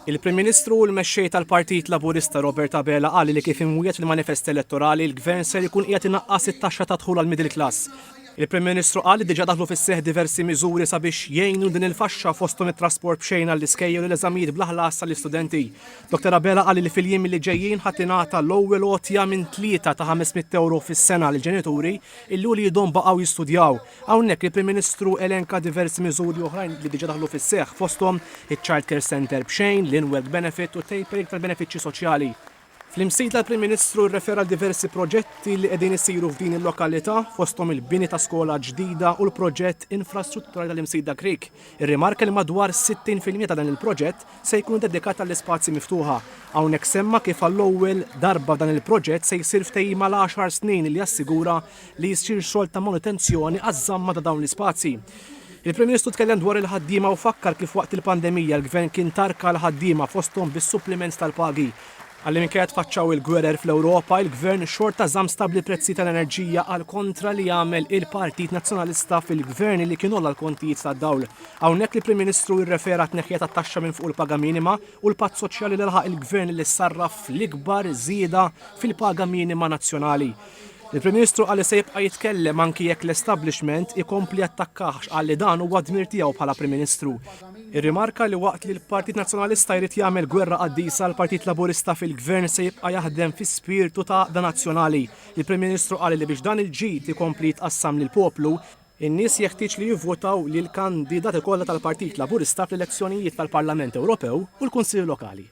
Il-Prim Ministru u l-Mexxej tal-Partit Laburista Robert Abela qal li kif imwiegħed fil-manifest elettorali l-Gvern ser ikun qiegħed inaqqas it-taxxa tad-dħul għall-middle class. Il-Prim Ministru qal li diġà daħlu fis-seħħ diversi miżuri sabiex jgħinu lil din il-faxxa fosthom it-trasport b'xejn għall-iskejjel u l-eżamijiet bla ħlas għall-istudenti. Dottor Abela qal li fil-jiem li ġejjin ħa tingħata l-ewwel għotja minn tlieta ta' 500 ewro fis-sena lill-ġenituri illi uliedhom baqgħu jistudjaw. Hawnhekk il-Prim Ministru elenka diversi miżuri oħrajn li diġà daħlu fis-seħħ, fosthom iċ-Childcare Centre b'xejn, l-In-Work Benefit u t-tapering tal-benefiċċji soċjali. Fl-imsida l-Prim Ministru rrefera għal diversi proġetti li qegħdin isiru f'din il-lokalità, fosthom il-bini ta' skola ġdida u l-proġett infrastrutturali tal-Imsida Creek. Irrimarka li madwar 60 fil-mija ta' dan il-proġett se jkun dedikat għall-ispazji miftuħa. Hawnhekk semma kif għall-ewwel darba f'dan il-proġett se jsir ftehim għal għaxar snin li jassigura li jsir xogħol ta' manutenzjoni għaż-żamma ta' dawn l-ispazji. Il-Prim Ministru tkellem dwar il-ħaddiema u fakkar kif waqt il-pandemija l-Gvern kien tarka l-ħaddiema fosthom bis-suppliment tal-pagi Għalli minkejja tfaċċaw il-gwerer fl-Ewropa, il-Gvern xorta żamm stabbli l-prezzi tal-enerġija għal kontra li għamel il-Partit Nazzjonalista fil-Gvern li kien għolla l-kontijiet tad-dawl. Hawnhekk l-Prim Ministru irrefera għat-tneħħija tat-taxxa minn fuq il-paga minima u l-patt soċjali li laħaq il-Gvern li sarraf fl-ikbar żieda fil-paga minima nazzjonali. Il-Prim Ministru qal li se jibqa' jitkellem anki jekk l-establishment ikompli jattakkah għax qal li dan huwa d-dmir tiegħu bħala Prim Ministru. Irrimarka li waqt li l-Partit Nazzjonalista jrid jagħmel gwerra qaddisa l-Partit Laburista fil-Gvern se jibqa' jaħdem fi spirtu ta' għaqda nazzjonali. Il-Prim Ministru qal li biex dan il-ġid ikompli jitqassam lill-poplu, in-nies jeħtieġ li jivvutaw lill-kandidati kollha tal-Partit Laburista fl-elezzjonijiet tal-Parlament Ewropew u l-Kunsilli Lokali.